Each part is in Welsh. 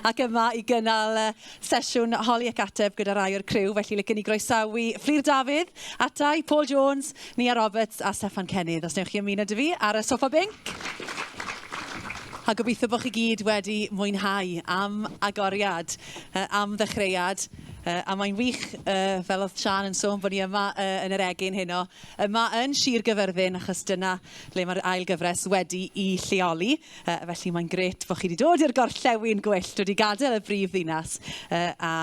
ac yma i gynnal sesiwn holi ac ateb gyda rai o'r criw. Felly, licen i groesawu Fflur Dafydd, Atai, Paul Jones, Nia Roberts a Steffan Cennydd, os newch chi ymuno dy fi ar y sofa binc. A gobeithio bod chi gyd wedi mwynhau am agoriad, uh, am ddechreuad, uh, a mae'n wych, uh, fel oedd Sian yn sôn, bod ni yma uh, yn yr egin heno, Yma yn Sir Gyfyrddin achos dyna le mae'r ail gyfres wedi'i lleoli. Yy felly mae'n grêt bo' chi 'di dod i'r gorllewin gwyllt, wedi gadael y brif ddinas yy a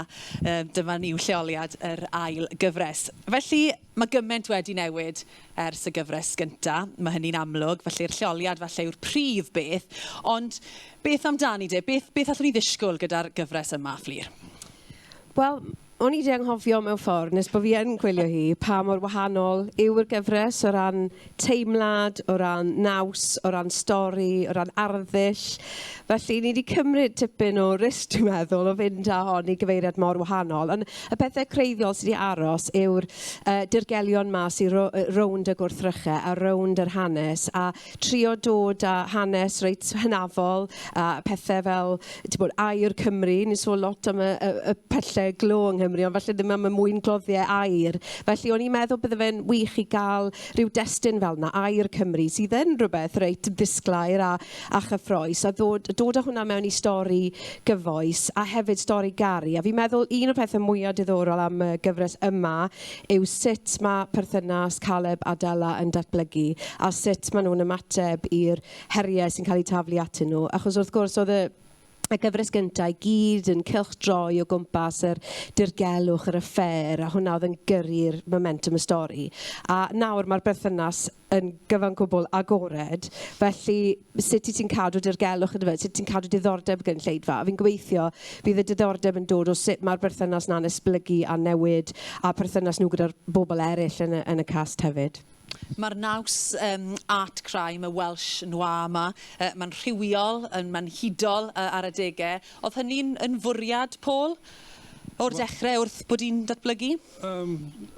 yy dyma ni yw lleoliad yr ail gyfres. Felly ma' gyment wedi newid ers y gyfres gynta', ma' hynny'n amlwg, felly'r lleoliad falle yw'r prif beth, ond beth amdani de, beth beth allwn ni ddisgwl gyda'r gyfres yma, Fflur? Wel, O'n i 'di anghofio mewn ffordd, nes bod fi yn gwylio hi, pa mor wahanol yw'r gyfres o ran teimlad, o ran naws, o ran stori, o ran arddull. Felly, ni 'di cymryd tipyn o risg, dwi'n meddwl, o fynd â hon i gyfeiriad mor wahanol. Ond y pethe creiddiol sy' 'di aros yw'r yy dirgelion 'ma sy ro- yy rownd y gwrthryche a rownd yr hanes a trio dod â hanes reit hynafol a pethe fel t'mod air Cymru, ni'n sôn lot am y y y pylle glo yng Nghymru ond falle ddim am y mwyn gloddie air. Felly o'n i'n meddwl bydde fe'n wych i ga'l ryw destun fel 'na, air Cymru, sydd yn rwbeth reit ddisglair a a chyffrous a ddod dod â hwnna mewn i stori gyfoes a hefyd stori garu a fi'n meddwl un o'r pethe mwya diddorol am y gyfres yma yw sut mae perthynas Caleb a Della yn datblygu a sut maen nhw'n ymateb i'r heriau sy'n cael eu taflu atyn nhw. Achos wrth gwrs oedd y y gyfres gyntaf i gyd yn cylchdroi o gwmpas yr dirgelwch, yr affair, a hwnna oedd yn gyrru'r momentum y stori. A nawr mae'r berthynas yn gyfan gwbl agored, felly sut wyt ti'n cadw dirgelwch yndyfe, sut ti'n cadw diddordeb y gynulleidfa. A fi'n gobeithio bydd y diddordeb yn dod o sut mae'r berthynas 'na'n esblygu a newid a perthynas nhw gyda'r bobl eraill yn y, yn y cast hefyd. Mae'r naws um, art crime, y Welsh noir yma, uh, mae'n rhywiol, mae'n hudol uh, ar adegau. Oedd hynny'n yn fwriad, Paul, o'r dechrau wrth bod i'n datblygu? Yym,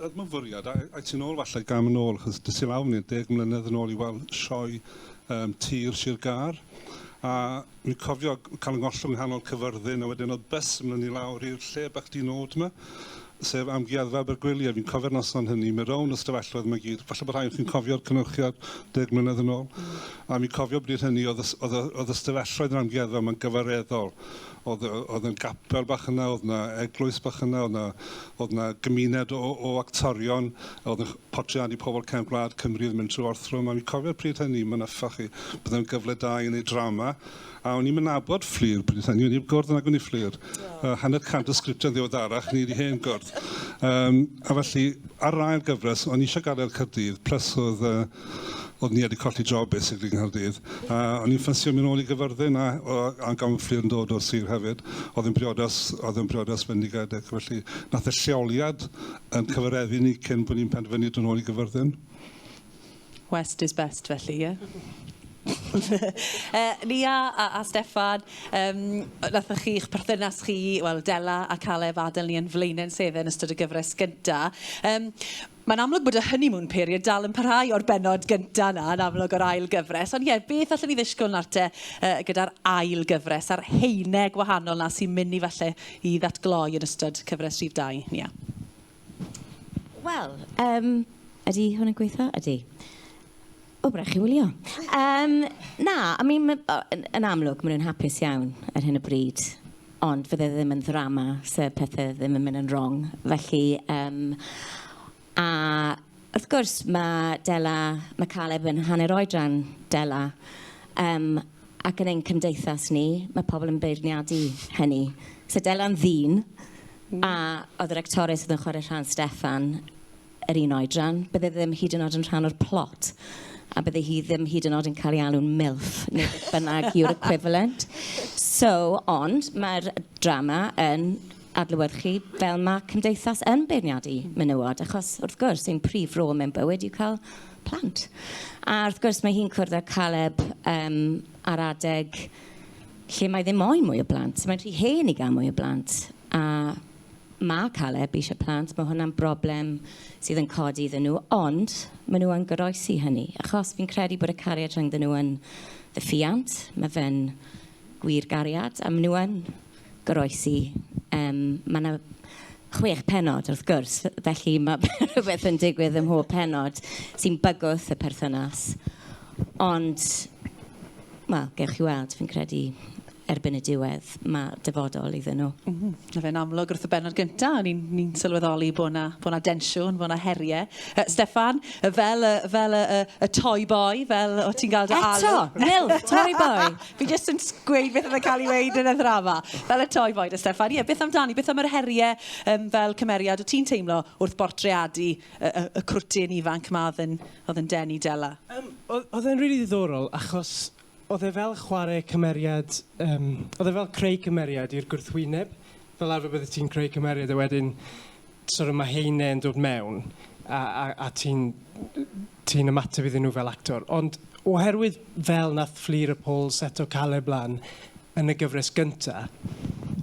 yr myfyriad, a ai ti'n ôl falle gam yn ôl, achos dys i lawr ni deg mlynedd yn ôl i weld sioe um, tir Sir Gar, a mi cofio cael yng ngollwng nghanol cyfyrddin, a wedyn oedd bus yn mynd i lawr i'r lle bach di nod yma, sef amgueddfa Abergwyliau, fi'n cofio'r noson hynny, mi rown y stafelloedd yma gyd, falle bod rhai o'n chi'n cofio'r cynnyrchiad deg mlynedd yn ôl, a mi cofio bryd hynny oedd y, oedd y, oedd y stafelloedd yn amgueddfa yma'n gyfareddol, Oedd, oedd yn gapel bach yna, oedd yna eglwys bach yna, oedd yna, oedd yna gymuned o, o actorion, oedd yn portreadu pobl cefn gwlad Cymru oedd mynd trwy orthrwm, a fi'n cofio'r pryd hynny, mae'n yffach chi, byddai'n gyfle da i wneud drama, a o'n i'n mynd abod fflir pryd hynny, o'n i'n gwrdd yn agwni fflir, uh, hanner cant o sgriptau'n ddiweddarach, ni wedi hen gwrdd. Um, a felly, ar rai'r gyfres, o'n i eisiau gadael Cyrdydd, plus oedd uh, Oeddwn i wedi colli job basically yng Nghaerdydd a o'n i'n ffansio mynd nôl i Gyfyrddin a a gan fy ffrind dod o'r sir hefyd oedd yn briodas oedd yn briodas fendigedig felly nath y lleoliad yn cyfareddu ni cyn bod ni'n penderfynu dod nôl i Gyfyrddin. West is best felly ie? uh, Lia a, a Steffan, um, nathoch chi'ch perthynas chi, wel, Dela a Caleb adael ni yn flaenau'n sedde yn ystod y gyfres gyntaf. Um, Mae'n amlwg bod y honeymoon period dal yn parhau o'r bennod gynta' 'na yn amlwg o'r ail gyfres ond ie beth allwn ni ddishgwl nawr te yy gyda'r ail gyfres a'r haene gwahanol 'na sy'n myn' i falle i ddatgloi yn ystod cyfres rhif dau, Nia? Wel yym ydi hwn yn gweitho? Ydi. O, byddai chi'n wylio. Um, na, I mean, yn amlwg, maen nhw'n hapus iawn ar hyn o bryd. Ond fydde ddim yn ddrama, se pethau ddim yn mynd yn wrong. Felly, um, a wrth gwrs, mae Dela, mae Caleb yn hanner oedran Dela. Um, ac yn ein cymdeithas ni, mae pobl yn beirniadu hynny. So Dela'n ddyn, mm. a oedd yr actores oedd yn chwarae rhan Steffan, yr un oedran, bydde ddim hyd yn oed yn rhan o'r plot, a bydde hi ddim hyd yn oed yn cael ei alw'n MILF, neu beth bynnag yw'r equivalent. So, ond mae'r drama yn adlewyrchu fel mae cymdeithas yn beirniadu menywod, achos wrth gwrs, ein prif rôl mewn bywyd yw cael plant. A wrth gwrs, mae hi'n cwrdd â Caleb um, ar adeg lle mae ddim moyn mwy o blant. Mae'n rhy hen i gael mwy o blant. A Mae Caleb eisiau plant, mae hwnna'n broblem sydd yn codi iddyn nhw, ond maen nhw yn goroesi hynny, achos fi'n credu bod y cariad rhyngddyn nhw yn ddefiant, mae fe'n gwir gariad, a maen nhw yn goroesi. Yym, mae 'na chwech pennod, wrth gwrs, felly mae rhywbeth yn digwydd ym mhob pennod sy'n bygwth y perthynas. Ond, wel, gewch chi weld, fi'n credu erbyn y diwedd, ma' dyfodol iddyn nhw. M-hm. Ma' fe'n amlwg wrth y bennod gynta', o'n i'n ni'n sylweddoli bo' 'na bo' 'na densiwn, bo' 'na herie. Yy Steffan, yy fel y fel y y y toy boy, fel o' ti'n ga'l dy alw. Eto! Milk toy boy! Fi jyst yn s- gweud beth o'dd yn ca'l 'i weud yn y ddrama. Fel y toy boy 'da Steffan. Ie, beth amdani, beth am yr herie yym fel cymeriad o' ti'n teimlo wrth bortreadu y y y cwrt dyn ifanc 'ma o'dd yn o'dd yn denu Dela? Yym, o'dd o'dd e'n rili ddiddorol achos Oedd e fel chwarae cymeriad, yym, oedd e fel creu cymeriad i'r gwrthwyneb. Fel arfer byddet ti'n creu cymeriad a wedyn sort of ma' heine yn dod mewn a a a ti'n ti'n ymateb iddyn nhw fel actor. Ond oherwydd fel nath Fflur y Pwl seto Caleb lan yn y gyfres gynta,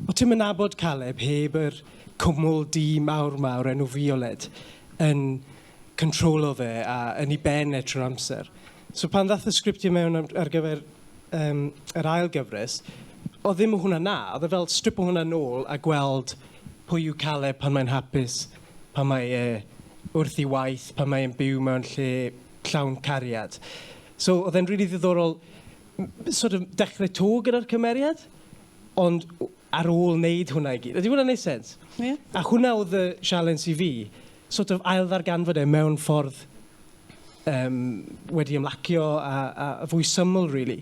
o' ti'm yn nabod Caleb heb yr cwmwl du mawr 'ma o'r enw Fioled yn controlo fe a yn ei ben e trwy'r amser. So pan ddath y sgriptiau mewn am, ar gyfer um, yr ail gyfres, oedd ddim o hwnna na. Oedd e fel strip o hwnna nôl a gweld pwy yw Caleb pan mae'n hapus, pan mae e wrth i waith, pan mae'n byw mewn lle llawn cariad. So oedd e'n rili really ddiddorol sort of dechrau to gyda'r cymeriad, ond ar ôl wneud hwnna i gyd. Ydy hwnna'n wneud sens? Ie. A hwnna oedd y sialens i fi, sort of ailddarganfod e mewn ffordd um, wedi ymlacio a, a fwy syml, really.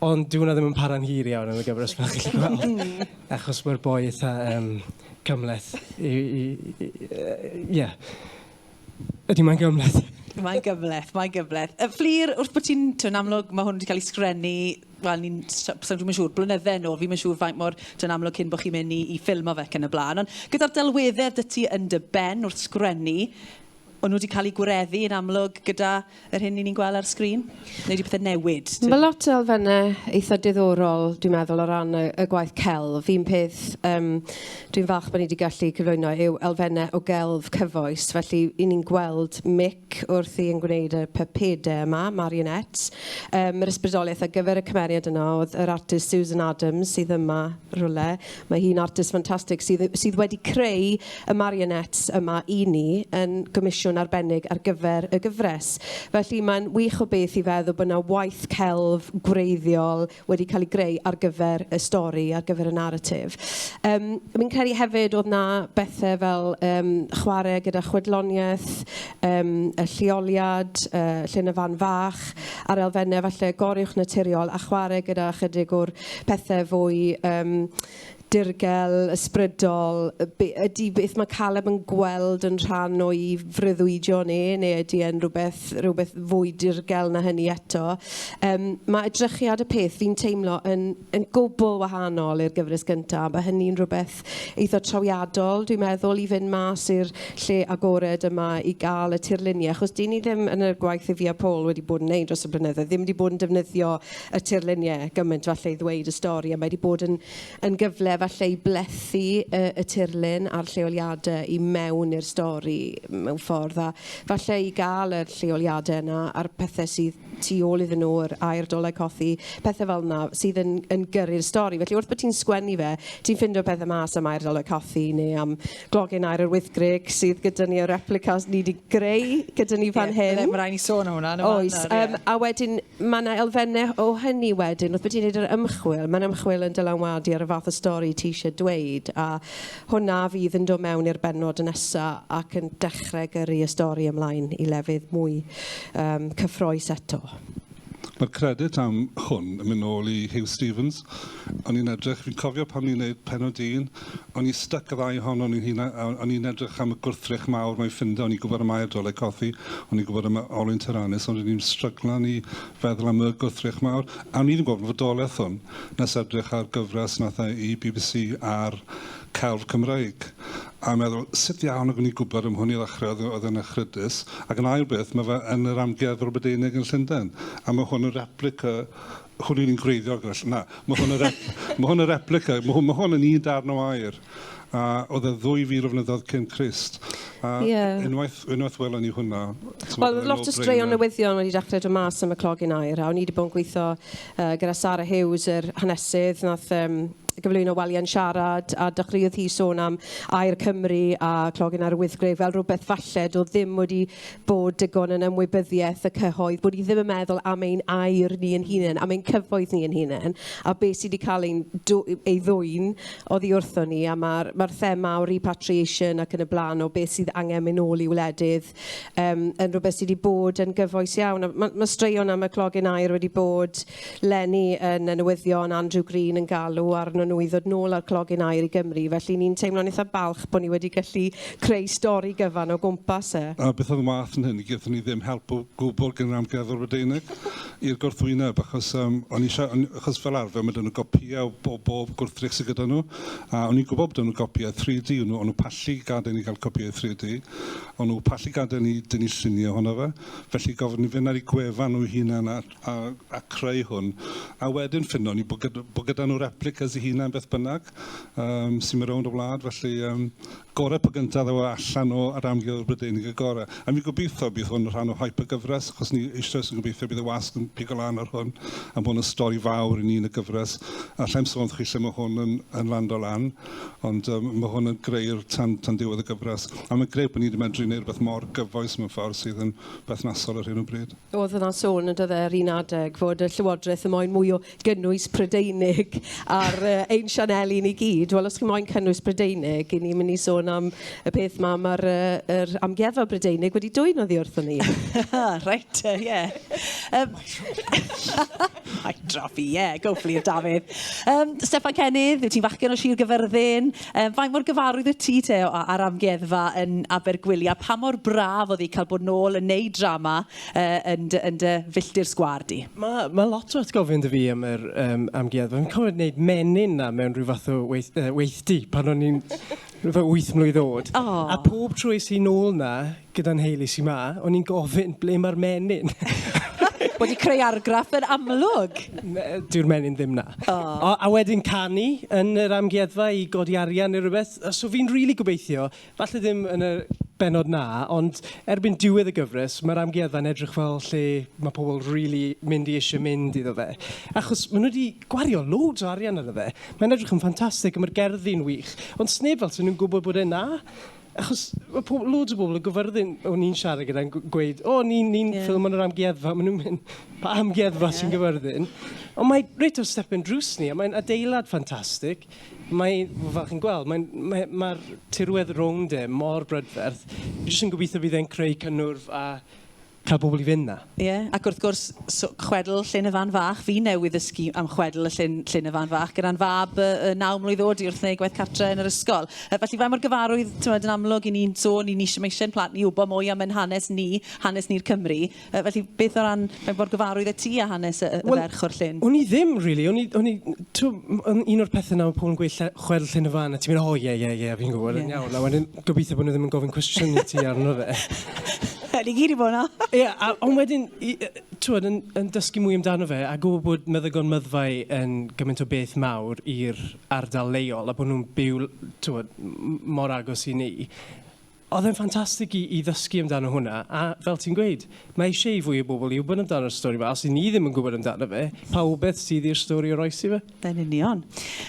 Ond dyw hwnna ddim yn para'n hir iawn yn y gyfres fel chi'n gweld. Achos mae'r boi eitha um, cymleth. Ie. Yeah. Ydy, mae'n gymleth. Mae'n gymleth, mae'n gymleth. Y fflir, wrth bod ti'n, ti'n amlwg, mae hwn wedi cael ei sgrennu, wel, ni'n, sa'n rhywun siŵr, blynydde yn ôl, fi'n siŵr faint mor dyn amlwg cyn bod chi'n mynd i, i ffilm o fe ac yn y blaen. Ond gyda'r delweddau dy ti yn dy ben wrth sgrennu, o'n nhw wedi cael eu gwireddu yn amlwg gyda yr hyn ni'n gweld ar sgrin? Neu ydy pethau newid? Mae lot o elfennau eitha diddorol, dwi'n meddwl, o ran y, y gwaith celf. Un peth um, dwi'n falch bod ni wedi gallu cyflwyno yw elfennau o gelf cyfoes. Felly, i ni'n gweld Mick wrth i yn gwneud y pypedau yma, marionettes. Um, yr ysbrydoliaeth ar gyfer y cymeriad yna oedd yr artist Susan Adams sydd yma rhywle. Mae hi'n artist ffantastig sydd yy sydd wedi creu y marionettes yma i ni yn gomisiwn arbennig ar gyfer y gyfres. Felly mae'n wych o beth i feddwl bod 'na waith celf gwreiddiol wedi cael ei greu ar gyfer y stori, ar gyfer y naratif. Yym fi'n credu hefyd oedd 'na bethe fel yym chwarae gyda chwedloniaeth, yym y lleoliad, yy lle yn y fan fach, a'r elfenne falle goruwchnaturiol a chwarae gyda chydig o'r pethe fwy yym dirgel, ysbrydol, yy be- ydi beth ma' Caleb yn gweld yn rhan o'i freuddwydion e neu ydi e'n rywbeth rywbeth fwy dirgel na hynny eto? Yym ma' edrychiad y peth fi'n teimlo yn yn gwbl wahanol i'r gyfres gynta', ma' hynny'n rywbeth gwaith eitha' trawiadol dwi'n meddwl i fynd mas i'r lle agored yma i gael y tirluniau achos 'dyn ni ddim yn y gwaith Iffi a Paul wedi bod yn wneud dros y blynyddoedd ddim wedi bod yn defnyddio y tirluniau gymaint falle i ddweud y stori a mae 'di bod yn yn gyfle falle i blethu y y tirlun a'r lleoliadau i mewn i'r stori mewn ffordd a falle i gael yr lleoliadau yna a'r pethe sydd tu ôl iddyn nhw, yr aer, dolau cothi, pethau fel yna sydd yn, yn gyrru'r stori. Felly wrth bod ti'n sgwennu fe, ti'n ffindio pethau mas am aer dolau cothi neu am glogen aer yr wythgrig sydd gyda ni o replicas ni wedi greu gyda ni fan yeah, hyn. Mae rhaid ni sôn am hwnna. Oes, um, yeah. a wedyn mae yna elfennau o hynny wedyn, wrth bod ti'n gwneud yr ymchwil, mae'n ymchwil yn dylanwadu ar y fath o stori ti eisiau dweud a Hwnna fydd yn dod mewn i'r bennod nesa ac yn dechre gyrru y stori ymlaen i lefydd mwy yym cyffroes eto. Mae'r credit am hwn yn mynd nôl i Huw Stephens. O'n i'n edrych, fi'n cofio pan ni'n neud pennod un, o'n i styc y ddau ohonon ni'n huna- a o'n i'n edrych am y gwrthrych mawr mae ffindo, o'n i'n gwbod am Aur Doleg Cothi, o'n i'n gwbod am Olwyn Tiranis, ond o'n i'n stryglan i feddwl am y gwrthrych mawr, a o'n i ddim yn gwbod am fodolaeth hwn. nes edrych ar gyfres wnaeth e i bbc ar celf Cymreig, a meddwl, 'sut ddiawl nag o'n i'n gwybod am hwn i ddechrau, oedd oedd e'n echrydus, ac yn ail beth, mae fe yn yr Amgueddfa Rwbedeinig yn Llundain, a mae hwn yn replica, hwn yw'r un gwreiddiol gyda ll-, na, mae hwn yn rep- mae hwn yn replica, mae hwn, mae hwn yn un darn o air. a oedd e ddwy fil o flynyddoedd cyn Crist. A yeah. unwaith, unwaith welon ni hwnna... Wel, oedd lot o straeon newyddion wedi dechrau dod mas am y clogyn air, a o'n i wedi bod yn gweithio uh, gyda Sarah Hughes, yr hanesydd, nath um, gyflwyno waliau'n siarad a dechreuodd hi sôn am Air Cymru a Clogyn ar y Wythgreg fel rhywbeth falle doedd ddim wedi bod digon yn ymwybyddiaeth y cyhoedd, bod ni ddim yn meddwl am ein air ni yn hunain, am ein cyfoeth ni yn hunain, a beth sydd wedi cael ein ei ddwyn oddi wrthon ni, a mae'r ma thema o repatriation ac yn y blaen, o beth sydd angen mynd nôl i wledydd, um, yn rhywbeth sydd wedi bod yn gyfoes iawn. Mae ma straeon am y clogyn air wedi bod Lenny yn y newyddion, Andrew Green yn galw arnyn nhw i ddod nôl â'r clogyn aer i Gymru, felly ni'n teimlo'n eitha balch bod ni wedi gallu creu stori gyfan o gwmpas e. A beth oedd yn wath na hynny, gaethon ni ddim help o gwbl gan yr Amgueddfa Brydeinig i'r gwrthwyneb, achos yym o'n i isio, o'n i, achos fel arfer ma' 'da nhw gopïau o bob bob gwrthrych sydd gyda nhw, a o'n i'n gwybod bod 'da nhw gopïau 3D, o'n nhw o'n nhw pallu gadael i ni gael copïau 3D, o'n nhw pallu gadael i ni dynnu lluniau ohono fe, felly gofyn i ni fynd ar eu gwefan nhw eu hunain a a a creu hwn a wedyn ffindo ni bod gyda bod gyda nhw replicas i hunan beth bynnag um, sy'n mynd rownd y wlad felly um, gorau pa gyntaf ddaw e allan o yr amgylch y Brydeinig y gorau a mi gobeithio bydd hwn yn rhan o hype y gyfres achos ni eisoes yn gobeithio bydd y wasg yn pigo lan ar hwn a bod yn stori fawr i ni yn y gyfres a llaim sôn chi lle mae hwn yn, yn lando lan ond um, mae hwn yn greu'r tan, tan diwedd y gyfres a mae'n greu bod ni wedi medru gwneud rhywbeth mor gyfoes mewn ffordd sydd yn berthnasol ar hyn o bryd. oedd yna sôn yn dydde ar un adeg fod y Llywodraeth yn moyn mwy o gynnwys Prydeinig ar uh, ein sianeli ni gyd. Wel, os chi'n moyn cynnwys Prydeinig, i ni'n mynd i sôn am y peth ma, mae'r uh, er amgueddfa Brydeinig wedi dwy'n oddi wrthyn ni. right, uh, yeah. Um, I drop i, yeah, go for you, Dafydd. Um, Stefan Cennydd, yw ti'n fachgen o Sir Gyfyrddin? Yym, faint mor gyfarwydd wyt ti te â- â'r amgueddfa yn Abergwili a pha mor braf oedd hi cael bod nôl yn neud drama yy yn dy yn dy filltir sgwâr di? Ma' ma' lot o atgofion 'da fi am yr yym amgueddfa. Fi'n cofio neud menyn 'na mewn rhyw fath o weith- yy weithdy pan o'n i'n rhyw fath o wyth mlwydd o'd. O! A pob tro es i nôl 'na gyda nheulu sy 'ma, o'n i'n gofyn ble mae'r menyn? Wedi creu argraff yn amlwg. Dyw'r menyn ddim 'na. Oh. A wedyn canu yn yr amgueddfa i godi arian neu rhywbeth. So fi'n rili really gobeithio, falle ddim yn y benod 'na, ond erbyn diwedd y gyfres, mae'r amgueddfa'n edrych fel lle mae pobl rili really mynd i eisiau mynd iddo fe. Achos maen nhw wedi gwario loads o arian arno fe. Mae'n edrych yn ffantastig a mae'r gerddi'n wych. Ond sneb fel sy'n nhw'n gwybod bod e'n 'na. Achos mae pobl, loads o bobl yn gyfyrddin, o'n i'n siarad gyda'n gweud, o, oh, ni'n ni, ni yeah. ffilm yn yr amgueddfa, maen nhw'n mynd, pa amgueddfa yeah. sy'n gyfyrddin? Ond mae reit o'r step yn drws ni, a mae'n adeilad ffantastig. Mae, fel chi'n gweld, mae'r mae, mae, mae tirwedd rownd e mor brydferth. Fi jyst yn gobeithio bydd e'n creu cynnwrf a Cael pobl i fynd 'na. Ie, ac wrth gwrs, so, chwedl Llyn y Fan Fach. Fi newydd ddysgu am chwedl y llyn, Llyn y Fan Fach, gyda'n fab yy yy naw mlwydd o'd i wrth wneud gwaith cartre yn yr ysgol. Yy felly faint mor gyfarwydd, t'mod, yn amlwg 'yn ni'n sôn, 'yn ni isie, ma' isie 'yn plant ni i wbo mwy am ein hanes ni, hanes ni'r Cymry. Yy felly beth o ran, faint mor gyfarwydd y' ti â hanes y y y ferch o'r llyn? Wel, o'n i ddim rili, o'n i, o'n i, t'mo', m- yn un o'r pethe 'na ma' pobl yn gweud lle- chwedl Llyn y Fan a ti'n mynd, 'O ie, ie, ie, fi'n gwbod, yn iawn. A wedyn, Gobeithio bod nhw ddim yn gofyn cwestiwn i ti arno fe. Ni gyd i bod yna. Ie, a- ond wedyn, i- yy, t'wod, yn, yn dysgu mwy amdano fe a gwybod bod meddygon myddfai yn gymaint o beth mawr i'r ardal leol a bod nhw'n byw, l- t'wod, m- mor agos i ni. Oedd e'n ffantastig i, i ddysgu amdano hwnna. A fel ti'n gweud, mae eisiau i fwy o bobl i wybod amdano'r stori yma. Os i ni ddim yn gwybod amdano fe, pa wybeth sydd i'r stori o roes i fe? Yn union.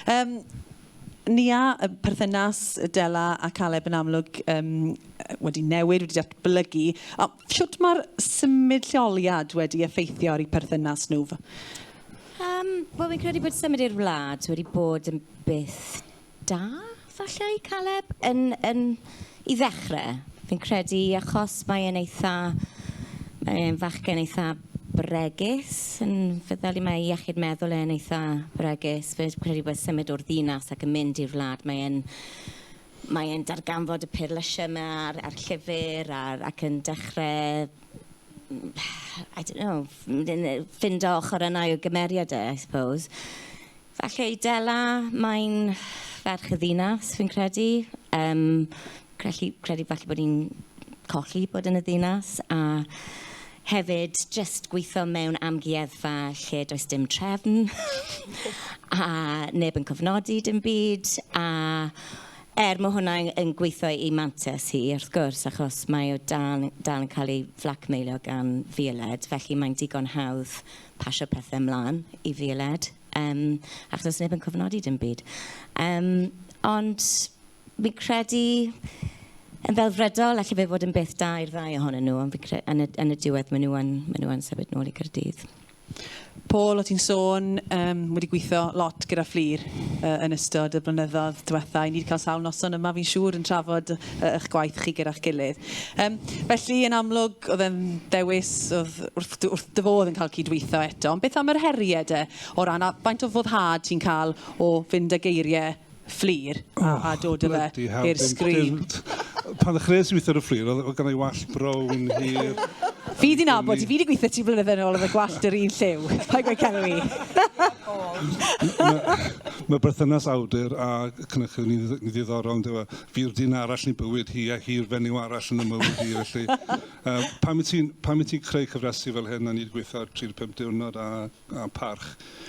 Um, Nia, y perthynas Dela a Caleb yn amlwg yym wedi newid, wedi datblygu. A shwt mae'r symud lleoliad wedi effeithio ar eu perthynas nhw? Um, Wel, fi'n credu bod symud i'r wlad wedi bod yn beth da, falle, i Caleb, yn, yn I ddechrau, fi'n credu achos mae e'n eitha... mae e'n fachgen eitha bregus, yn feddyliol. Mae ei iechyd meddwl e'n eitha bregus. Fi'n credu bod symud o'r ddinas ac yn mynd i'r wlad, mae e'n... mae e'n darganfod y peirlysiau 'ma a'r a'r llyfr a'r... ac yn dechrau I don't know, ffindo ochrau yna i'w gymeriad e, I suppose. Felly Dela, mae'n ferch y ddinas fi'n credu. Yym crellu credu falle bod hi'n colli bod yn y ddinas a hefyd jyst gweitho mewn amgueddfa lle does dim trefn a neb yn cofnodi dim byd a er mae hwnna yn, yn gweithio i mantes hi wrth gwrs achos mae o dal, dal yn cael ei flacmeilio gan fioled felly mae'n digon hawdd pasio pethe ymlan i fioled yym achos does neb yn cofnodi dim byd. Yym ond fi'n credu yn ddelfrydol alle fe fod yn beth da i'r ddau ohonyn nhw ond fi'n cre- yn y yn y diwedd maen nhw yn maen nhw yn symud nôl i Caerdydd. Paul, o ti'n sôn, um, wedi gweithio lot gyda Fflir uh, yn ystod y blynyddoedd diwetha. I ni wedi cael sawl noson yma, fi'n siŵr, yn trafod uh, yy ych gwaith chi gyda'ch gilydd. Yym, felly yn amlwg o'dd e'n ddewis o'dd wrth dy- wrth dy fodd yn ca'l cydweitho eto, ond beth am yr herie de? O ran a- faint o foddhad ti'n ca'l o fynd â geirie Fflur a a dod â fe i'r sgrin? O, blydi hell, dim dim. Pan ddechreuais i witho ar y Fflur o'dd o- o'dd gynna i wallt brown hir. Fi 'di nabod ti, fi 'di gwitho ti flynydde nôl efo gwallt yr un lliw, paid gweud celw i. Ma' ma' berthynas awdur a cynhyrchydd yn un ddi- ddiddorol yndyw e? Fi'r dyn arall yn bywyd hi a hi'r fenyw arall yn y mywyd hi felly yy pan wyt ti'n pan wyt ti'n creu cyfresi fel hyn a ni 'di gweithio ar 35 diwrnod a a parch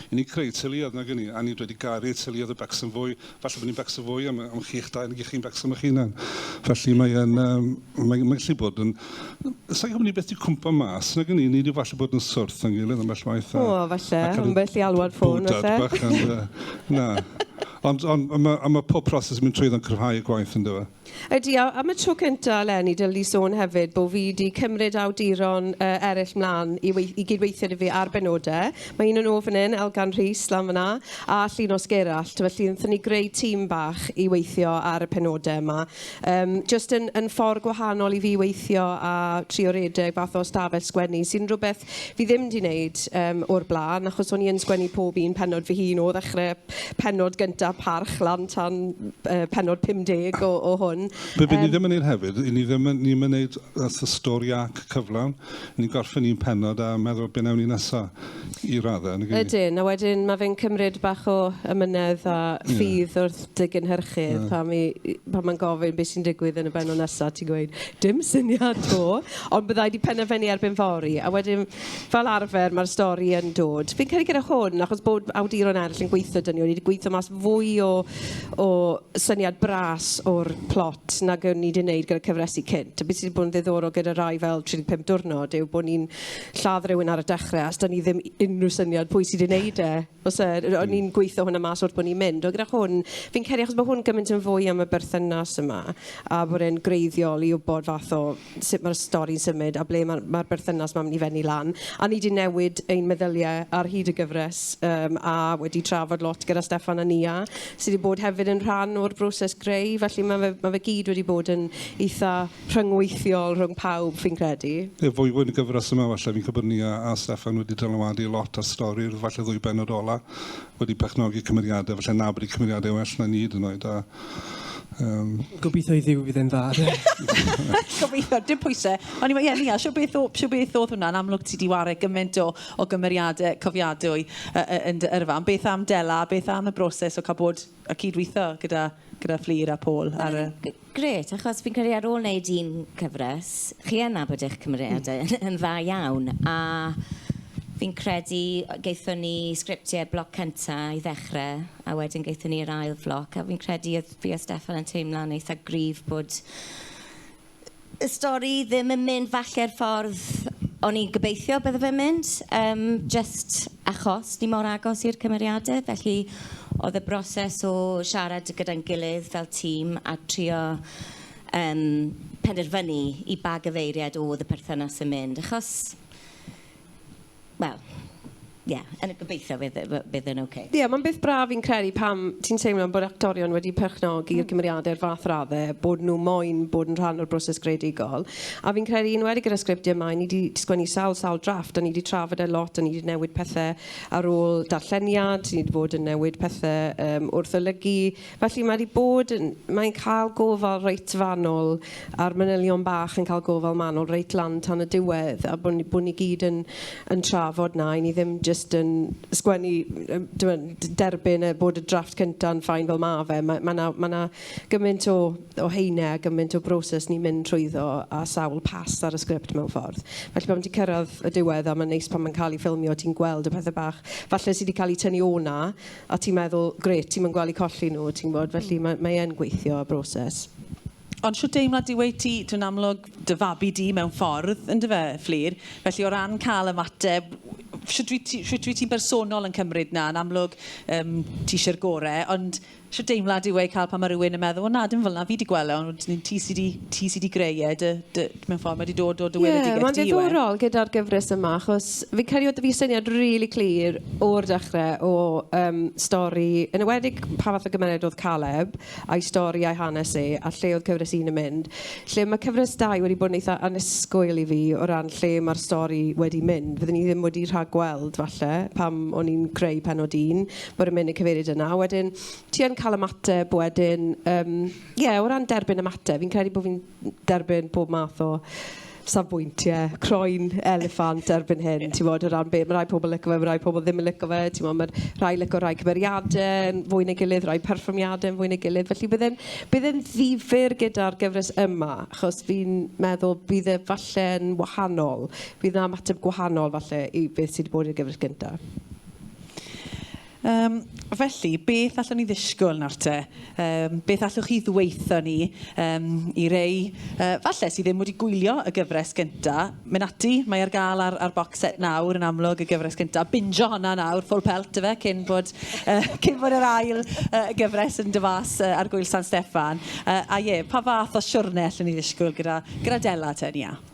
i ni creu teuluoedd nag 'yn ni a ni wedi garu teuluoedd a becso'n fwy falle bo' ni'n becso fwy am am chi'ch dau nag 'ych chi'n becso am 'ych hunan felly mae yn yym mae mae'n gallu bod yn sai'n gwbo ni byth 'di cwmpo mas nag 'yn ni ni 'di falle bod yn swrth o'n gilydd ambell waith a... O falle ambell i alwad ffôn falle. ...bwdad bach ond yy na. Ond, ond a mae, a mae pob proses yn mynd trwyddo'n cryfhau y gwaith, yn dyw? Ydy, a am y tro cyntaf, eleni, dylwn i sôn hefyd bod fi wedi cymryd awduron uh, eraill mlaen i, wei i gydweithio dy fi ar benodau. Mae un yn ôl fan hyn, Elgan Rhys, lan fyna, a Llinos Gerallt. Felly, wnaethon ni greu tîm bach i weithio ar y penodau yma. Yym, jyst yn yn ffordd gwahanol i fi weithio a trio redeg fath o stafell sgwennu, sy'n rhywbeth fi ddim 'di wneud yym o'r blaen, achos o'n i yn sgwennu pob un pennod fy hun, o ddechrau pennod gynta Parch lan tan yy pennod 50 o o hwn. Be be ni ddim yn wneud hefyd, 'yn ni ddim yn, ni ddim yn wneud fatha stori arc cyflawn, ni'n gorffen un pennod a meddwl be wnewn ni nesa'. I raddau, nag yw? Ydyn, a wedyn mae fe'n cymryd bach o ymynedd a ffydd yeah. wrth dy gynhyrchydd yeah. pan, mi, pan mae'n gofyn beth sy'n digwydd yn y benod nesaf, ti'n gweud, dim syniad to, ond byddai di penderfynu erbyn fori. A wedyn, fel arfer, mae'r stori yn dod. Fi'n credu gyda hwn, achos bod awduron eraill yn gweithio dyn ni, wedi gweithio mas fwy o, o syniad bras o'r plot nag o'n ni wedi gwneud gyda cyfresu cynt. A beth sydd wedi bod yn ddiddorol gyda rai fel 35 diwrnod yw bod ni'n lladd rhywun ar y dechrau achos 'da ni ddim unrhyw syniad pwy sy 'di wneud e. Os yy... O'n hmm. ni'n gweithio hwnna mas wrth bod ni'n mynd. Ond gyda hwn, fi'n credu achos bod hwn gymaint yn fwy am y berthynas yma a bod e'n greiddiol i wybod fath o sut mae'r stori'n symud a ble mae'r ma berthynas mae'n mynd i fenni lan. A ni wedi newid ein meddyliau ar hyd y gyfres um, a wedi trafod lot gyda Stefan a Nia sydd wedi bod hefyd yn rhan o'r broses greu. Felly mae fe, ma fe gyd wedi bod yn eitha rhyngweithiol rhwng pawb, fi'n credu. Ie, fwy fwy yn y gyfres yma falle. Fi'n credu bod ni a, a Steffan wedi dylanwadu lot ar stori, falle ddwy benod ola, wedi perchnogi cymeriadau, falle na bod y cymeriadau well na ni hyd yn oed, a Um, Gobeithio i ddiw fydd e'n dda. Gobeithio, dim pwysau. Ond ie, Nia, sio beth, o, sio beth oedd hwnna'n amlwg ti di wario gymaint o, o gymeriadau cofiadwy uh, yn dy yrfa. Ond beth am Dela, beth am y broses o cael bod a cyd-weithio gyda, gyda Fflur a Paul ar y... G- grêt, achos fi'n credu ar ôl wneud un cyfres, chi yn nabod eich cymeriadau yn yn dda iawn, a fi'n credu yy gaethon ni sgriptiau bloc cynta i ddechrau, a wedyn gaethon ni'r ail floc, a fi'n credu oedd fi a Steffan yn teimlo'n eitha gryf bod y stori ddim yn mynd falle'r ffordd o'n i'n gobeithio bydde fe'n mynd, yym jyst achos ni mor agos i'r cymeriade. Felly oedd y broses o siarad gyda'n gilydd fel tîm a trio yym penderfynu i ba gyfeiriad oedd y perthynas yn mynd, achos wel, ie, yn y gobeithio fydd e- fy- bydd e'n ocê. Ie, mae'n beth braf fi'n credu pam ti'n teimlo bod actorion wedi perchnogi'r cymeriadau i'r fath raddau bod nhw moyn bod yn rhan o'r broses greadigol. A fi'n credu, yn enwedig gyda'r sgriptiau yma, ni 'di sgwennu sawl, sawl drafft a ni 'di trafod e lot a ni 'di newid pethe ar ôl darlleniad, ni 'di bod yn newid pethe yym wrth olygu. Felly mae 'di bod yn... Mae'n cael gofal reit fanwl a'r manylion bach yn cael gofal manwl reit lan tan y diwedd a bod ni bod ni gyd yn yn trafod 'na i ni ddim jyst yn sgwennu yym t'mod d- derbyn e bod y drafft cynta'n fine fel ma' fe. Ma' ma' 'na ma' 'na gymaint o o haenau a gymaint o broses ni'n mynd trwyddo a sawl pas ar y sgript mewn ffordd. Felly pan ti'n cyrraedd y diwedd a mae'n neis pan mae'n cael ei ffilmio ti'n gweld y pethe bach falle sy' 'di cael eu tynnu o 'na a ti'n meddwl, grêt, ti'm yn gweld eu colli nhw, ti'n gwybod, felly mae, mae e'n gweithio y broses. Ond shwt deimlad yw e i ti, dwi'n amlwg, dy fabi di mewn ffordd, yn dy fe, Fflur, felly o ran cael ymateb, shwt wyt ti, shwt wyt ti'n bersonol yn cymryd na, yn amlwg, um, ti eisiau'r gore, ond shwt deimlad yw e i cael pan mae rhywun yn meddwl, o na, dim fel na, fi di gweld e, ond ti sydd wedi, ti sydd wedi greu e, dy, dy, mewn ffordd, mae 'di dod o dy weledigaeth di yw e? Ie, mae'n ddiddorol gyda'r gyfres yma, achos fi'n credu oedd 'da fi syniad rili clir o'r dechre o yym stori, yn enwedig pa fath o gymeriad oedd Caleb, a'i stori a'i hanes e, a lle oedd cyfres un yn mynd. Lle mae cyfres dau wedi bod yn eitha annisgwyl i fi o ran lle mae'r stori wedi mynd. Fyddwn i ddim wedi rhagweld, falle, pam o'n i'n creu pennod un, bod e'n mynd i'r cyfeiriad yna. Wedyn, ti yn cael ymateb wedyn, yym, ie, o ran derbyn ymateb, fi'n credu bod fi'n... derbyn pob math o safbwyntie, croen eliffant erbyn hyn, ti'n bod, o ran be, mae rhai pobl yn licio fe, mae rhai pobl ddim yn licio fe, ti'n bod, mae rhai licio rhai cymeriadau yn fwy neu gilydd, rhai perfformiadau yn fwy neu gilydd, felly bydd e'n, bydd e'n ddifyr gyda'r gyfres yma, achos fi'n meddwl bydd e falle'n wahanol, bydd yna ymateb gwahanol falle i beth sydd wedi bod i'r gyfres gyntaf. Yym, felly, beth allwn ni ddisgwyl nawr te? Yym, beth allwch chi ddweutho ni? Yym, i rei, yy, falle, sydd ddim wedi gwylio y gyfres gynta, mynd ati, mae ar gael ar, ar box set nawr, yn amlwg, y gyfres gynta. Binjo honna nawr, full pelt, ife, cyn bod, uh, cyn bod yr ail uh, gyfres yn dy fas uh, ar gwyl San Steffan. Uh, a ie, pa fath o siwrne allwn ni ddisgwyl gyda, gyda Dela te, Nia?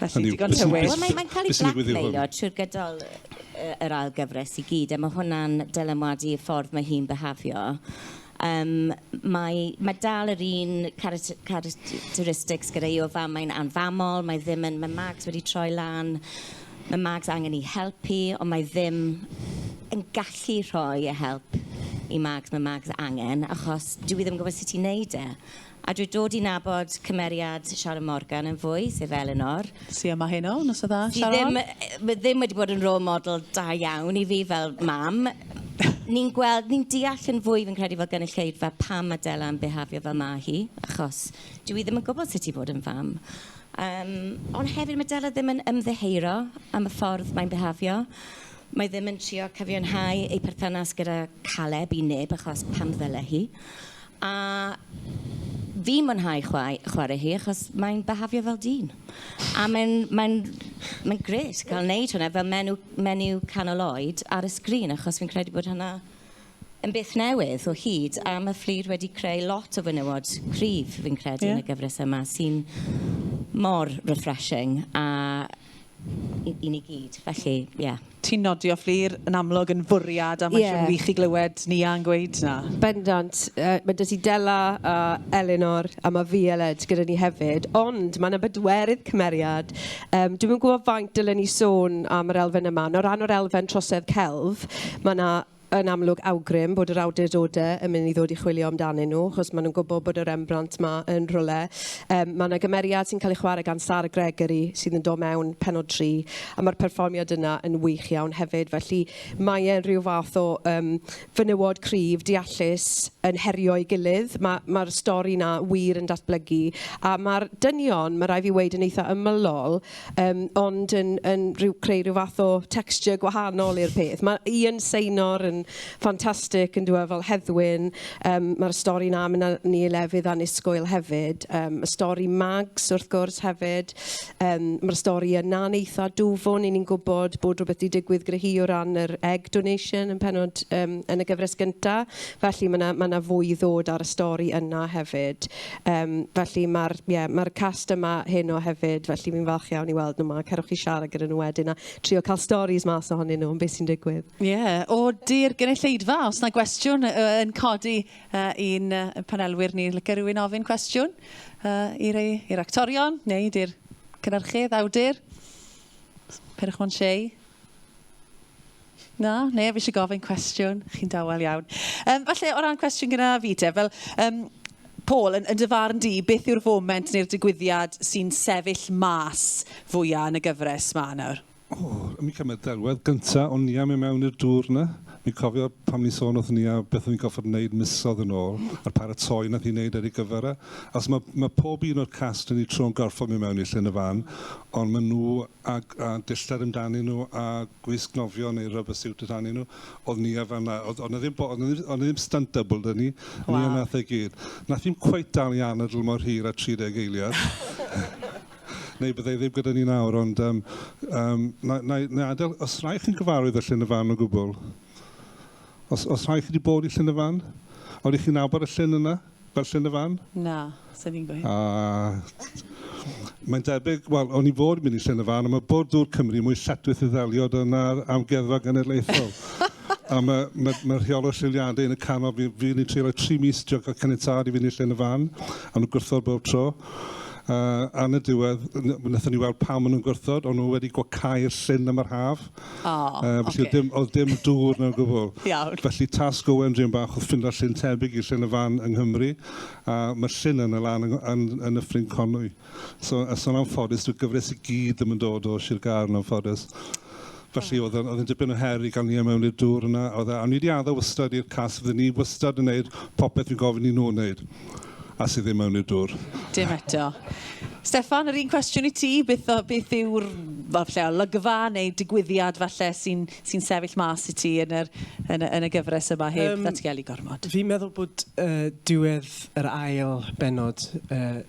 Felly, digon tywyll. Wel, mae'n mae cael ei blackmailio trwy'r gydol yy yr ail gyfres i gyd, a mae hwnna'n dylanwadu y ffordd mae hi'n behafio. Um, mae, mae dal yr un characteristics gyda hi o fam, mae'n anfamol, mae ddim yn... Mae Mags wedi troi lan, mae Mags angen ei helpu, ond mae ddim yn gallu rhoi y help i Mags, mae Mags angen, achos dwi ddim yn gwybod sut i wneud e. A dwi dod i nabod cymeriad Sharon Morgan yn fwy, sef Elinor. Su yma heno, noson dda Sharon? Sy ddim, ma ddim wedi bod yn role model da iawn i fi fel mam. ni'n gweld, ni'n deall yn fwy fi'n credu fel gynulleidfa pam ma Della yn bihafio fel ma hi, achos dyw hi ddim yn gwbod sut i fod yn fam. Yym, ond hefyd ma Della ddim yn ymddiheuro am y ffordd mae'n bihafio. Mae ddim yn trio cyfiawnhau ei perthynas gyda Caleb i neb achos pam ddyle hi. A fi'n mwynhau chwae- chwarae hi achos mae'n behafio fel dyn. A mae'n mae'n mae'n grêt cael wneud hwnna fel menw menyw canol oed ar y sgrin achos fi'n credu bod hwnna yn beth newydd o hyd a ma' Fflur wedi creu lot o fenywod cryf fi'n credu... Ie. ...yn y gyfres yma sy'n mor refreshing a i i ni gyd felly ie. Ti'n nodio Fflur, yn amlwg yn fwriad a mae'n siwr wych i glywed Nia yn gweud 'na. Bendant. Mae 'da ti Della a Elinor a mae Violed gyda ni hefyd. Ond mae 'na bedwerydd cymeriad. Dwi'm yn gwybod faint dylen ni sôn am yr elfen yma. O ran yr elfen trosedd celf, mae 'na... yn amlwg awgrym bod yr awdurdodau yn mynd i ddod i chwilio amdanyn nhw, achos maen nhw'n gwybod bod y Rembrandt 'ma yn rhywle. Yym, mae 'na gymeriad sy'n cael ei chwarae gan Sara Gregory sydd yn dod mewn pennod tri, a mae'r perfformiad yna yn wych iawn hefyd. Felly, mae e'n rhyw fath o yym fenywod cryf, deallus, yn herio'i gilydd. Ma' ma'r stori 'na wir yn datblygu, a ma'r dynion, ma' raid fi weud, yn eitha' ymylol, Yym, ond yn yn rhyw... creu rhyw fath o texture gwahanol i'r peth. Mae Ian Seinor yn ffantastig yn dyw e, fel Heddwyn. Yym, mae'r stori 'na yn mynd â ni i lefydd annisgwyl hefyd. Yym, y stori Mags, wrth gwrs, hefyd. Yym, mae'r stori yna'n eitha dwfwn, 'y ni'n gwybod bod rhywbeth 'di digwydd gyda hi o ran yr egg donation yn pennod... yym yn y gyfres gynta. Felly, mae 'na mae 'na fwy i ddod ar y stori yna hefyd. Yym, felly ma'r, ie, ma'r cast yma heno hefyd, felly fi'n falch iawn i weld nhw 'ma. Cerwch i siarad gyda nhw wedyn a trio cael storis mas ohonyn nhw am beth sy'n digwydd. Ie, ody'r gynulleidfa, os na gwestiwn yy yn codi yy i'n yy panelwyr ni, lyca rywun ofyn cwestiwn yy i rei, i'r actorion, neu di'r cynyrchydd, awdur? Peidiwch mo'n shei. Na, neb eisiau gofyn cwestiwn. Chi'n dawel iawn. Um, falle o ran cwestiwn gyda fi te, fel um, Paul, yn, yn dy farn di, beth yw'r foment neu'r digwyddiad sy'n sefyll mas fwyaf yn y gyfres ma nawr? O, oh, mi cymryd delwedd gyntaf o'n ni am i mewn i'r dŵr yna. Mi cofio pan ni sôn wrth ni a beth o'n i'n goffod wneud misodd yn ôl, a'r paratoi nath i wneud ar ei gyfer e. Os mae, mae pob un o'r cast yn ei tro'n gorfod mi mewn i llyn y fan, ond maen nhw a dillad amdanyn nhw a gwisg nofio neu rubber suit amdanyn nhw. Oedd Nia fan'na. Oedd oedd 'na ddim bo- oedd 'na ddim oedd 'na ddim stunt double 'da ni. Waw. Nia wnaeth e gyd. Wnaeth hi'm cweit dal i anadl mor hir â 30 eiliad. Neu bydde hi ddim gyda ni nawr ond yym yym na na i na i adael os rhai chi'n gyfarwydd â Llyn y Fan o gwbl? Os os rhai chi 'di bod i Llyn y Fan? Odych chi'n nabod y llyn yna? berchen y fan? Na, sa'n i'n gweud. A mae'n debyg, wel, o'n i fod yn mynd i llen y fan, ond mae Bwrdd Dŵr Cymru mwy lletwith i ddelio dyna'r amgueddfa genedlaethol. a mae, mae, mae rheol o lliwliadau yn y canol, fi, fi ni'n treulio tri mis trio cael caniatad i fynd i llen y fan, a nhw'n gwrthod bob tro. Uh, a yn y diwedd, wnaethon ni weld pam maen nhw'n gwrthod, ond nhw wedi gwacau'r llyn am yr haf. O, uh, felly okay. dim, oedd dim dŵr na gwbl. Iawn. Felly tasg o Wendrian bach oedd ffindo llyn tebyg i llyn y fan yng Nghymru, a mae llyn yn y lan yn, yn, yn y ffrin conwy. So, a son am ffodus, dwi'n gyfres i gyd ddim yn dod o Sir Gaer yn ffodus. Felly oedd yn, oedd yn dipyn o her i gael ni mewn i'r dŵr yna. Oedd, e, a ni wedi addo wystad i'r cas, fydden ni wystad yn gwneud popeth fi'n gofyn i nhw wneud. a sydd ddim mewn i'r dwr. Dim eto. Steffan, yr un cwestiwn i ti, beth, o, beth yw'r falle, olygfa neu digwyddiad falle sy'n sy sefyll mas i ti yn, yr, yn, yn y gyfres yma heb um, ddatgelu gormod? Fi'n meddwl bod uh, diwedd yr ail benod uh,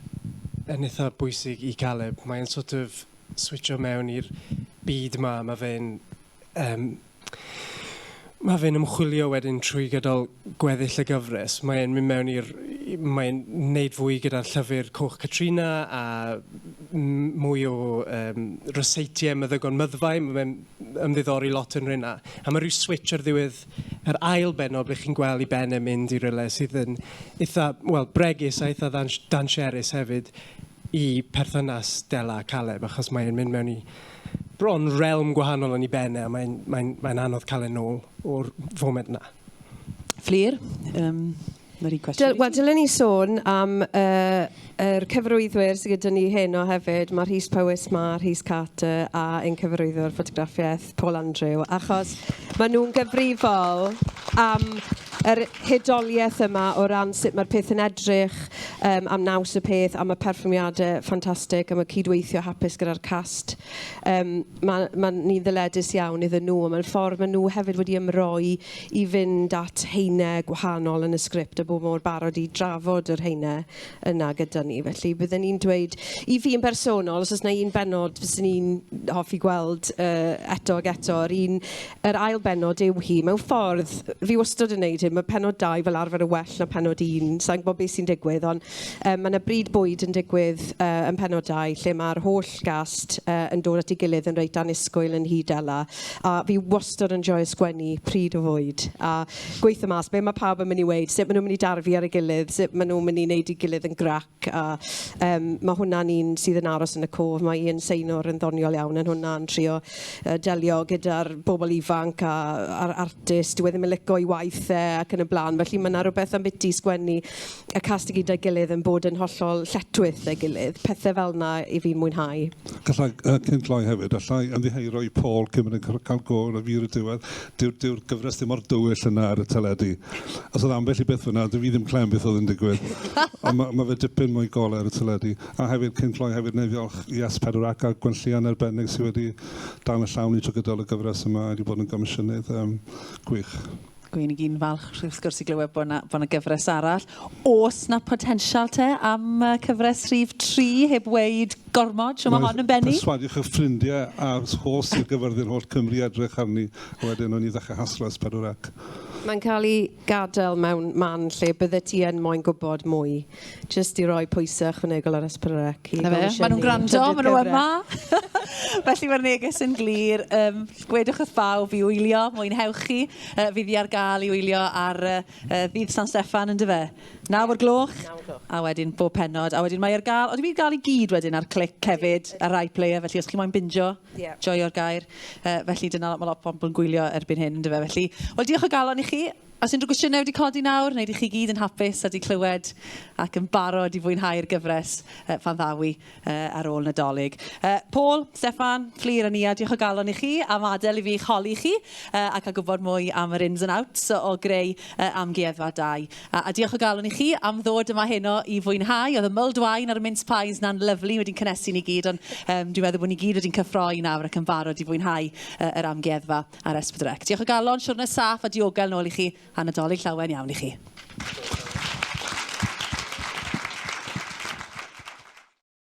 yn eitha bwysig i Caleb. Mae'n sort of switcho mewn i'r byd ma, mae fe'n Yym, mae fe'n ymchwilio wedyn trwy gydol gweddill y gyfres. Mae e'n mynd mewn i'r... mae e'n wneud fwy gyda'r llyfr Coch Catrina a m- mwy o yym ryseitiau meddygon myddfai. Mae fe'n ymddiddori lot yn rheina. A mae rhyw switch ar ddiwedd yr ail bennod ble chi'n gweld i ben e'n mynd i rywle sydd yn eitha', wel, bregus a eitha' ddan- danserus hefyd. i perthynas Della a Caleb achos mae e'n mynd mewn i bron realm gwahanol yn ei ben e a mae'n mae mae anodd cael e'n ôl o'r foment yna. Fflir, um, mae'r un cwestiwn. Dyl, Wel, dylen ni sôn am uh, er cyfarwyddwyr sydd gyda ni heno hefyd. Mae Rhys Powys, mae Rhys Carter a ein cyfarwyddwr ffotograffiaeth Paul Andrew, achos maen nhw'n gyfrifol am yr hudoliaeth yma o ran sut mae'r peth yn edrych, um, am naws y peth, am y perfformiadau ffantastig, am y cydweithio hapus gyda'r cast. Um, mae, mae ni'n ddyledus iawn iddyn nhw, a mae'n ffordd maen nhw hefyd wedi ymroi i fynd at heinau gwahanol yn y sgript a bod mor barod i drafod yr heinau yna gyda ni. Felly bydden i'n dweud, i fi yn bersonol, os oes yna un bennod fyswn i'n hoffi gweld uh, eto ac eto, yr un, yr ail bennod yw hi. Mewn ffordd, fi wastod yn gwneud hyn, mae pennod dau fel arfer yn well na pennod un. Sa'n gwybod beth sy'n digwydd, ond um, mae yna bryd bwyd yn digwydd uh, yn pennod dau, lle mae'r holl gast uh, yn dod at ei gilydd yn reit anusgwyl yn hyd ela. A fi wastod yn joio sgwennu pryd o fwyd. A gweithio mas be mae pawb yn mynd i weud, sut maen nhw'n mynd i darfu ar ei gilydd, sut maen nhw'n mynd i wneud ei gilydd yn grac. A um, mae hwnna'n un sydd yn aros yn y cof. Mae Ian Seinor yn ddoniol iawn yn hwnna, yn trio uh, delio gyda'r bobl ifanc a'r artist. Dwi e ddim yn licio i waith e ac yn y blaen. Felly mae yna rhywbeth am biti sgwennu y cast i gyda'i gilydd yn bod yn hollol lletwyth ei gilydd. Pethau fel yna i fi'n mwynhau. Gallai, uh, cyn gloi hefyd, allai ymddiheuro i Paul cyn mynd yn cael gol y fi ar y diwedd. dyw'r dyw'r gyfres ddim mor dywyll yna ar y teledu. Os oedd ambell i beth fyna, dwi ddim clem beth oedd yn digwydd. Ond mae, mae fe dipyn mwy gole ar y teledu. A hefyd, cyn cloi hefyd, neu ddiolch i As Pedwar ac a Gwenllian arbennig sydd wedi dan y llawn i trwy gydol y gyfres yma wedi bod yn gomisiynydd um, gwych. Gwyn i gyn falch wrth gwrs i glywed bod yna, bod yna gyfres arall. Os na potensial te am cyfres rhif 3 heb weid Gormod, so mae hon yn bennu. Perswadiwch eich ffrindiau a'r holl Sir Gaerfyrddin, holl Cymru i edrych arni, a wedyn wnawn ni ddechrau haslo S4 ac. Mae'n cael ei gadael mewn man lle byddet ti yn moyn gwybod mwy, jyst i roi pwysau ychwanegol ar S4C i gomisiynu trydydd cyfres. Maen nhw'n gwrando, maen nhw yma! Felly mae'r neges yn glir, gwedwch wrth bawb i wylio, mwynhewch chi, fydd hi ar gael i wylio ar Uh, ddydd San Steffan, yn dyfe? Naw o'r gloch, a wedyn bob penod. A wedyn mae ar gael, oedd wedi gael i gyd wedyn ar clic hefyd, ar rai player, felly os chi moyn binjo, yeah. joio'r gair. Uh, felly dyna mae lot o bobl yn gwylio erbyn hyn, yn dyfe? Felly, wel diolch o galon i chi. Os unrhyw gwestiynau wedi codi nawr, wneud i chi gyd yn hapus a wedi clywed ac yn barod i fwynhau'r gyfres uh, pan ddawi. yy ar ôl Nadolig. Yy Paul, Steffan, Fflur a Nia, diolch o galon i chi am adael i fi eich holi chi yy a cael gwybod mwy am yr ins and outs o greu yy amgueddfa dau. A a diolch o galon i chi am ddod yma heno i fwynhau. Oedd y mulled wine a'r mince pies 'na'n lyfli, wedi'n cynhesu ni gyd ond yym dwi'n meddwl bod ni gyd wedi'n cyffroi nawr ac yn barod i fwynhau yy yr amgueddfa ar Esbydrec. Diolch o galon, siwrne saff a diogel nôl i chi a Nadolig llawen iawn i chi.